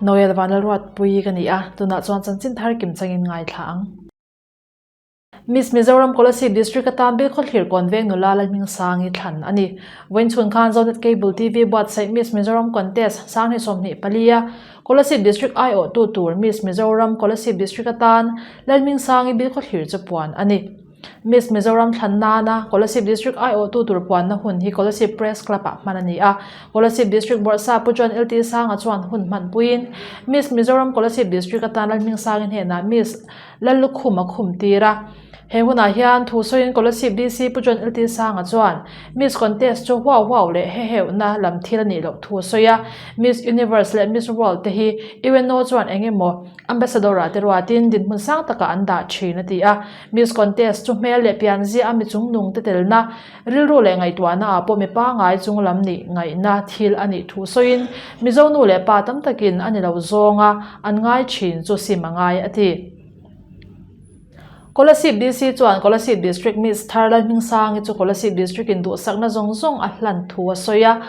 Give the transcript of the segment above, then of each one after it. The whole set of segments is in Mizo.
Noel Vanlalruatpui ka ni a, tunah chuan chanchin thar kim changin ngaithla ang. Miss Mizoram Kolasib District atan bil khawthlir Kawnveng nula Lalhming Sangi thlan a ni. Vawiin chhun khan Zonet Cable TV buatsaih Miss Mizoram Contest Sanghnih sawmhnih pali a Kolasib District aiawhtu tur Miss Mizoram Kolasib District atan Lalhming Sangi bil khawthlir che puan a ni. Miss Mizoram thlan nana Kolasib District aiawhtu tur puanna hun hi Kolasib Press Club ah hman a ni a, Kolasib District Board sa Pu John Lti Sanga chuan hun hman puiin Miss Mizoram Kolasib District atan Lalhming Sangi hnenah Miss Lallukhum a khum tir a. He hunah hian thu sawiin Kolasib DC Pu John Lti Sanga chuan Miss Contest chu huau huau leh heheuhna lam thil a nih loh thu a sawi a, Miss Universe leh Miss World te hi Iweno chuan engemaw Ambassador ah te ruatin dinhmun sang takah an dah thin a ti a. Miss Contest chu hmel leh pianzia a mi chungnung te telna, rilru leh ngaihtuahna ah pawh mi pangai chung lam nih ngaihna thil a nih thu sawiin Mizo nu leh pa tam takin a ni lo zawng a, an ngai thin chu sim a ngai a ti. Kolasib DC chuan Kolasib District Miss Tharlal Hmingsangi chu Kolasib District in duhsakna zawng zawng a hlan thu a sawi a,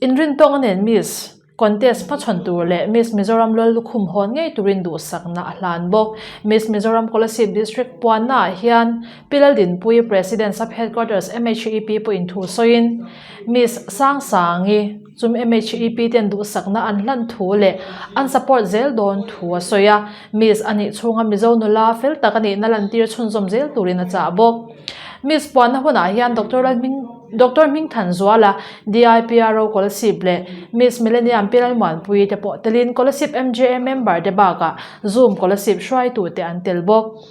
inrintawnga nen Miss. Contest hma chhawn tur leh Miss Mizoram lal lukhum hawn ngei turin duhsakna a hlan bawk. Miss Mizoram Coalessive District puannaah hian Pilal Dinpui, President Sub Headquarters MHEP pawhin thu sawiin Miss Sang Sangi chum MHEP ten duhsakna an hlan thu leh an support zel dawn thu a sawi a. Miss a nih chhunga Mizo nula fel tak a nihna lantir chhunzawm zel turin a chah bawk. Miss puanna hunah hian Doctor Lalhming. Doctor Hming Thanzuala, DIPRO Kolasib leh Miss Millennium Piral Muanpuii te pawh telin Kolasib MJA member te bakah Zoom Kolasib hruaitu te an tel bawk.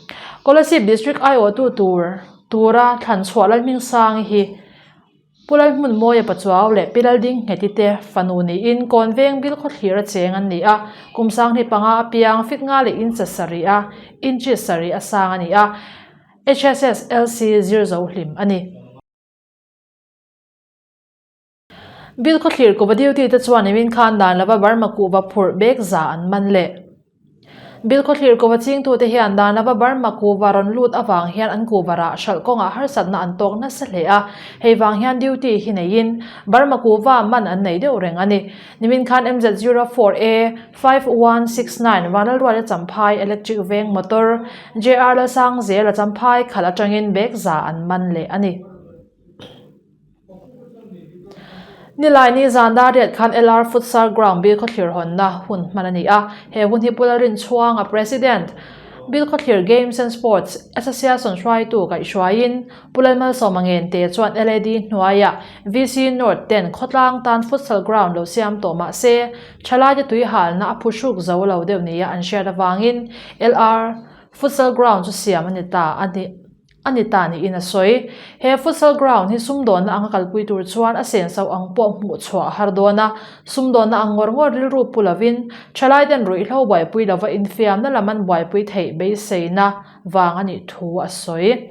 Kolasib District aiawhtu tur tura thlanchhuah Lalhmingsangi hi Pu Lalhmunmawia Pachuau leh Pi Lalding Ngheti te fanu niin kawn veng bil khawthlir a cheng an ni a, kum sanghnih panga a piang fik nga leh in sa sarih a, in chit sarih a sang a ni a. HSSLC zir zo hlim a ni. Bill khawthlir kuhva duty te chuan min khan dan lova Burma kuhva phurh bek za an man le. Bill khawthlir kuhva chingtu te hian dan lova Burma kuhva rawn lut avang hian an kuhva rah hralh kawngah harsatna an tawk nasa hle a, hei vang hian duty hi neiin Burma kuhva man an nei deuh reng a ni. Nimin khan MZ04A. Five one six nine vang lalruai la champhai electric veng motor JR Lalsangzir la champhai khalh atangin bag za an man leh a ni. Nilaini zan dar riat khan LR Futsal Ground bil khawthlir hawnna hun hman a ni a, he hun hi Pularin chhuanga President, Bil khawthlir Games and Sports Association hruaitu kaihhruaiin Pulal Malsawma Ngente chuan LAD hnuaia VC North ten khawtlang tan Futsal Ground lo siam tawh mah se, Thalaite tui halna a phu hruk zo lo deuh nia an hriat avangin LR Futsal Ground chu siam a ni ta a ni a ni ta niin a sawi. He Futsal Ground hi sumdawnna anga kalpui tur chuan a senso ang pawh hmuh chhuah a har dawn a. Sumdawnna ang ngawr ngawr rilru pu lovin Thalaiten ruihhlo buaipui lova infiamna lam an buaipui theih beiseina vang a nih thu a sawi.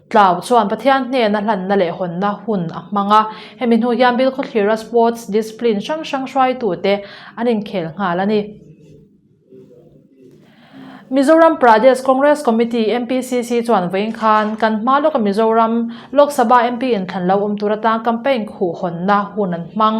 Tlau chuan Pathian hnena hlanna leh hawnna hun a hmang a, hemi hnu hian Bill khawthlira sports discipline hrang hrang hruaitute an inkhel nghal a ni. Mizoram Pradesh Congress Committee, MPCC, chuan vawiin khan kan hma lawka Mizoram Lok Sabha MP in thlan lo awm tur atang campaign khuh hawnna hun an hmang.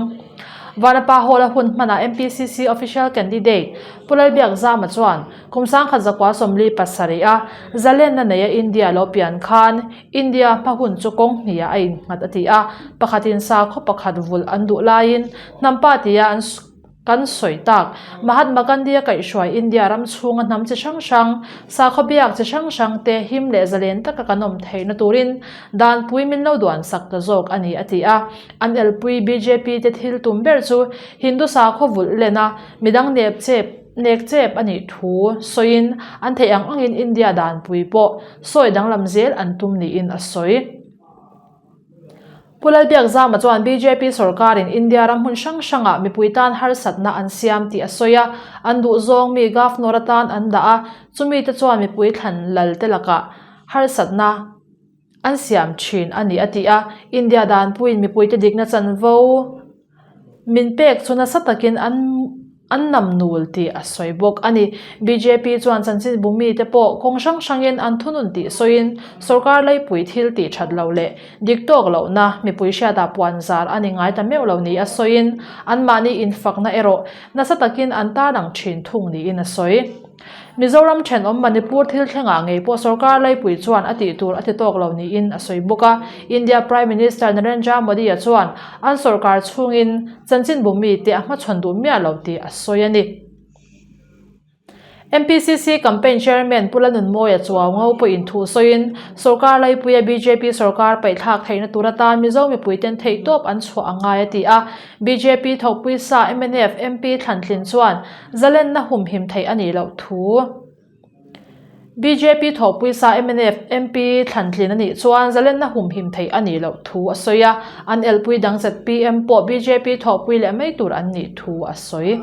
Vanapa Hall-a hun hmanah MPCC official candidate Pu Lalbiak Zama chuan, Kum sangkhat zakua sawmli pasarih a zalenna neia India lo pian khan India hma hun chu kawng hniah a innghat a ti a, pakhatin sakhaw pakhat vulh an duh laiin hnampatia an kan sawi tak. Mahatma Gandhia kaihhruai India ram chhunga hnam chi hrang hrang, sakhaw biak chi hrang hrang te him leh zalen taka kan awm theihna turin danpui min lo duan sak ta zawk a ni a ti a. An elpui BJP te thil tum ber chu Hindu sakhaw vulh lena midang nepchep, nek chep a nih thu sawiin an theih ang angin India danpui pawh sawi danglam zel an tum niin a sawi. Pu Lalpiak Zama chuan bjp sorkarin India ram hmun hrang hrangah mipui tan harsatna an siam tih a sawi a, an duh zawng mi govnor atan an dah a, chumite chuan mipui thlan lalte lakah harsatna, an siam thin a ni a ti a. India dan puiin mipuite dikna chanvo min pek chu nasa takin an an nam nul tih a sawi bawk a ni. Bjp chuan chanchin bumi te pawh kawng hrang hrangin an thunun tih sawiin sorkar laipui thil tih that loh leh dik tawk lohna mipui hriata puan zar a ni ngai ta meuh lo nia sawiin anmahni infakna erawh nasa takin an tarlang thin thung niin a sawi. Mizoram thenawm Manipur thil thlengah ngei pawh sorkar laipui chuan a tih tur a ti tawk lo niin a sawi bawk a. India Prime Minister Narendra Modi-a chuan an sorkar chhungin chanchin bum mi te a hmachhawn duh miah lo tih a sawi a ni. NPCC Campaign Chairman Pula Nunmawia chuau ngo pawhin thu sawiin sorkar laipuia bjp sorkar paihthlak theihna tura tan Mizo mipuiten theihtawp an chhuah a ngai a ti a. Bjp thawkpui sa mnf MP Thlantlin chuan zalenna hum him theih a nih loh thu Bjp thawkpui sa mnf MP Thlantlin a nih chuan zalenna hum him theih a nih loh thu a sawi a, an elpui dang zet PM pawh bjp thawkpui leh mai tur an nih thu a sawi.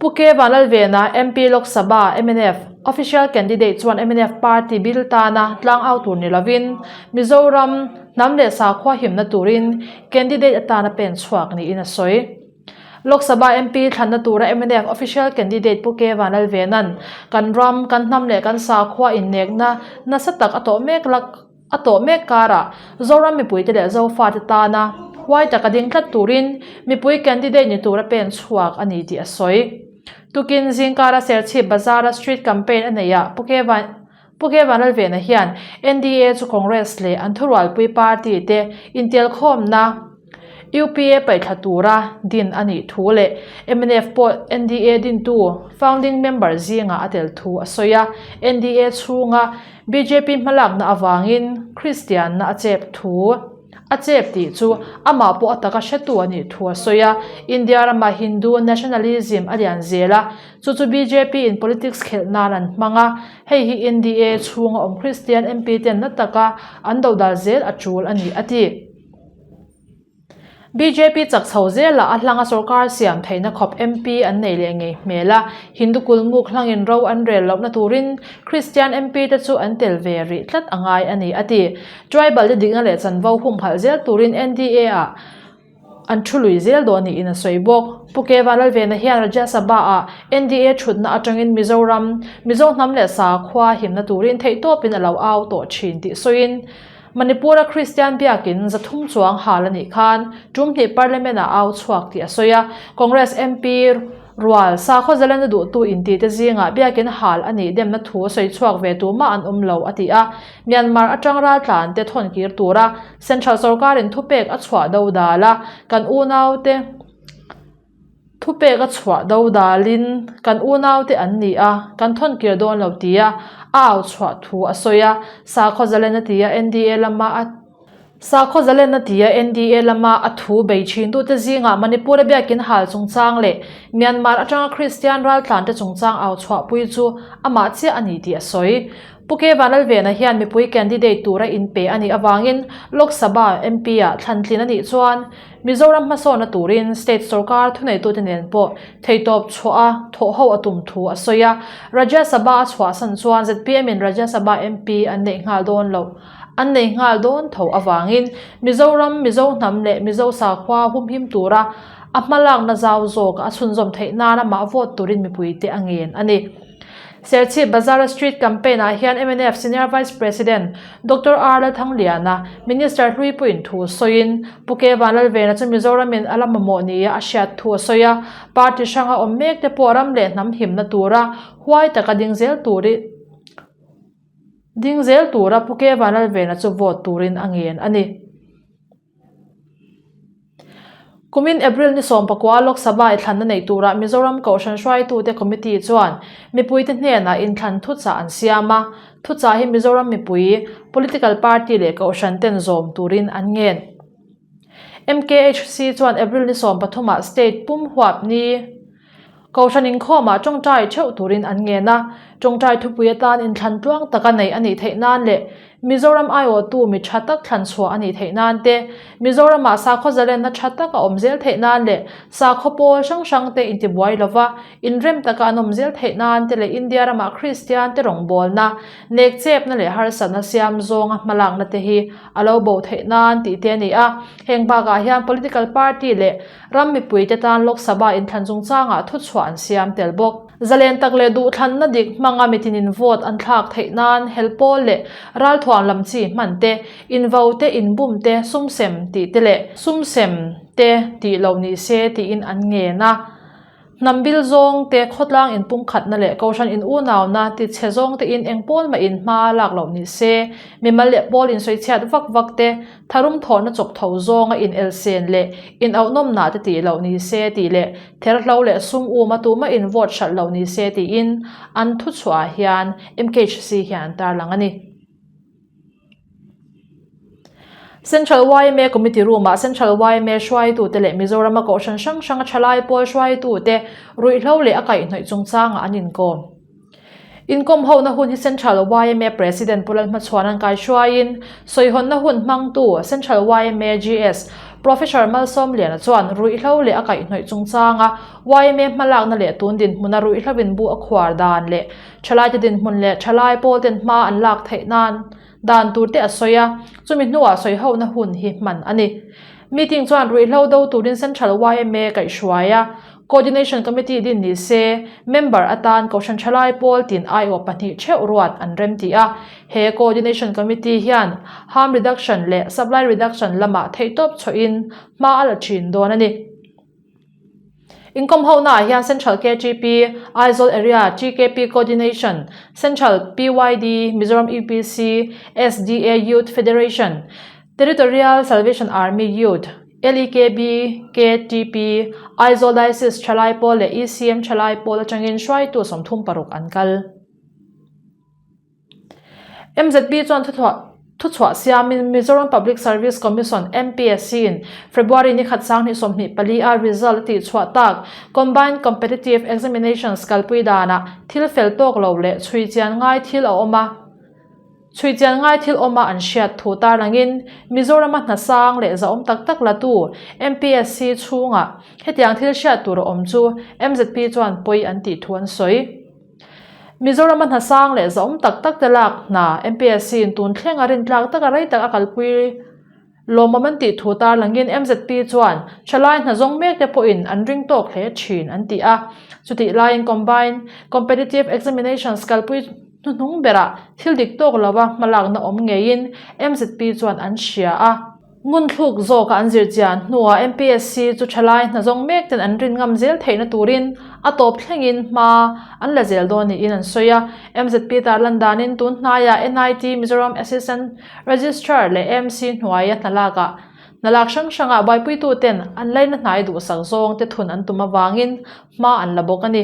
Phuket ah Lalvena MP Lok Sabha, mnf, official candidate chuan mnf party bill tana tlang au tur ni lovin Mizoram hnam leh sakhua himna turin candidate atan a pen chhuak niin a sawi. Lok Sabha MP thlanna tura mnf official candidate Pu Keva Lalvena'n kan ram, kan hnam leh kan sakhua innekna nasa tak a tawh mek lak. A tawh mek karah Zoram mipuite leh Zofate tana huai taka ding tlat turin mipui candidate ni tura pen chhuak a ni tih a sawi. Tukin Zingkara Serchhip Bazara Street Campaign a neih a Pu Khe Vanlalvena hian NDA chu Congress leh an thurualpui party te intelkhawmna, UPA paihthla tura din a nih thu leh mnf pawh NDA dintu, founding member, zingah a tel thu a sawi a. NDA chhunga bjp hmalakna avangin Kristianna a chep thu a chep tih chu amah pawh a taka hretu a nih thu a sawi a. India ramah Hindu nationalism a lian zel a, chu chu bjp in politics khelh nan an hmang a. Hei hi NDA chhunga awm Kristian MP ten la taka an doh dal zel a tul a ni, a ti. Bjp chakchho zela a hlanga sorkar siam theihna khawp MP an nei leh ngei hmel a, Hindu kulmuk hlangin ro an rel lohna turin Kristian MP te chu an tel ve rih tlat a ngai a ni, a ti. Tribal te dikna leh chanvo humhalh zel turin NDA ah an thu lui zel dawn niin a sawi bawk. Pu Keva Lalvena hian Rajya Sabha ah NDA thutna atangin Mizoram, Mizo hnam leh sakhua himna turin theihtawpin a lo au tawh thin tih sawiin Manipura Kristian biakin zathum chuang hal a nih khan ṭum hnih Parliament-ah au chhuak tih a sawi a. Congress MP rual sakhaw Zalenda duhtu intite zingah biakin hal a nih demna thu a sawi chhuak ve tu mah an awm lo a ti a. Myanmar aṭang raltlante thawnkir tura Central sorkarin thupek a chhuah do dal a, kan unaute, Thupek a chhuah do dalin kan unaute an nih a, kan thawn kir dawn lo ti a a au chhuah thu a sawi a, Sakhaw Zalena tia NDA lama a. Sakhaw Zalena tia NDA lama a thu bei thin duhte zingah Manipur a biakin hal chungchang leh Myanmar atanga Kristian raltlante chungchang au chhuahpui chu amah chiah a ni tih a sawi. Pu Keivan Lalvena hian mipui candidate tura inpe a nih avangin Lok Sabha MP-ah thlantlin a nih chuan, Mizoram hmasawna turin state sorkar thuneitute nen pawh theitawp chhuah a thawh ho a tum thu a sawi a. Rajya Sabha a chhuahsan chuan ZPM-in Rajya Sabha MP an neih nghal dawn lo an neih nghal dawn tho avangin Mizoram, Mizo hnam leh Mizo sakhua humhim tura a hmalakna zau zawk a chhunzawm theih nan amah vote turin mipuite a ngen a ni. Serchhip Bazar-a Street Campaign-ah hian mnf Senior Vice President Doctor R Lalthangliana Minister Hluipuiin thu sawiin Puke Vanlalvena chu Mizoramin a la mamawh nia a hriat thu a sawi a, party hranga awm mek te pawh ram leh hnam himna tura huai taka ding zel tur ding zel tura Puke Vanlalvena chu vote turin a ngen a ni. Kumin April ni sawm pakua Lok Sabha i thlanna neih tura Mizoram Kohhran Hruaitute Committee chuan mipuite hnenah inthlan thuchah an siam a. Thuchah hi Mizoram mipui, political party leh Kohhran ten zawm turin an ngen. MKHC chuan April ni sawm pathumah state pum huap ni, Kohhran inkhawmah tawngtai theuh turin an ngen a, tawngtai thupui atan inthlan tluang taka neih a nih theih nan leh Mizoram aiawhtu mi tha tak thlan chhuah a nih theih nan te, Mizoramah sakhaw zalenna tha tak a awm zel theih nan leh sakhaw pawl hrang hrang te intibuai lova inrem taka an awm zel theih nan te leh India ramah Kristian te rawngbawlna, nekchepna leh harsatna siam zawnga hmalakna te hi a lo bo theih nan tih te a ni a, heng bakah hian political party leh. Ram mipuite tan Lok Sabha inthlan chungchangah thuchhuah an siam tel bawk. Zalen tak leh duhthlanna dik hmanga mitinin vote an thlak theih nan helhpawl leh ralthuam lam chi hman te, invo te, inbum te, sumsem tih te leh sumsem te tih lo ni se tiin an ngen a. Hnambil zawngte, khawtlang inpungkhatna leh kohhran in-unauna tichhe zawngte in engpawl mah in hma a lak loh ni se, mimal leh pawl insawichhiat vak vakte, tharum thawhna chawk tho zawnga inelsen leh inauhnawmna te tih loh ni se tih leh therhlo leh sum um a tumah in vote hralh loh ni se tiin an thuchhuah ah hian mkhc hian an tarlang a ni. Central yma Committee Room ah Central yma hruaitute leh Mizorama Kohhran hrang hranga thalai pawl hruaitute ruihhlo leh a kaihnawih chungchangah an inkawm. Inkawm hona hun hi Central yma President Pu Lalhmachhuan an kai hruaiin sawihawnna hun hmangtu Central yma GS Professor Malsawmliana chuan ruihhlo leh a kaihnawih chungchanga yma hmalakna leh tun dinhmuna ruihhlovin bu a khuar dan leh Thalaite dinhmun leh thalai pawl ten hma an lak theih nan dan tur te a sawi a, chumi hnuah sawihohna hun hi hman a ni. Meeting chuan ruihhlo do turin Central yma kaih hruai a, Coordination Committee din ni se, member atan Kohhran thalai pawl tin aiawh pahnih theuh ruat an rem tih a, he Coordination Committee hian Harm Reduction leh Supply Reduction lamah theihtawp chhohin hma a la thin dawn a ni. Income honaah hian Central KGP, Aizawl Area, GKP Coordination, Central, PYD, Mizoram EPC, SDA Youth Federation, Territorial Salvation Army Youth, LEKB, KTP, Aizawl Diocese Thalai Pawl leh ECM Thalai Pawl atangin hruaitu sawmthum paruk an kal. MZP chuan thuchhuah siamin Mizoram Public Service Commission, MPSC, in February nikhat sang hnih sawmhnih pali a result a tihchhuah tak Combined Competitive Examinations kalpui danah thil fel tawk lo leh chhui chian ngai thil a awma chhui chian ngai thil awma an hriat thu tarangin Mizorama hna sang leh zahawm tak tak latu MPSC chhunga hetiang thil hriat tur a awm chu MZP chuan pawi an tih thu an sawi. Mizoram-a hna sang leh za awm tak tak te lak hna MPSC-in tun thleng a rin tlak taka rei tak a kalpui lawmawm an tih thu tarlangin MZP chuan Hre lai hna zawng mek te pawhin an ring tawk hle thin an ti a. Chutih laiin Combined Competitive Examinations kalpui hnuhnung berah thil dik tawk lova hmalakna awm ngeiin MZP chuan an hria a. Ngun thluk zawk a an zir chian hnuah MPSC chu thalai hna zawng mek ten an rin ngam zel theihna turin a tawp thlengin hma an la zel dawn niin an sawi a. MZP tarlan danin tun hnaia NIT, Mizoram Assistant Registrar leh AMC hnuaia hna lakah hna lak hrang hranga buaipuitu ten an laina hnai duhsak zawng te thun an tum avangin hma an la bawk a ni.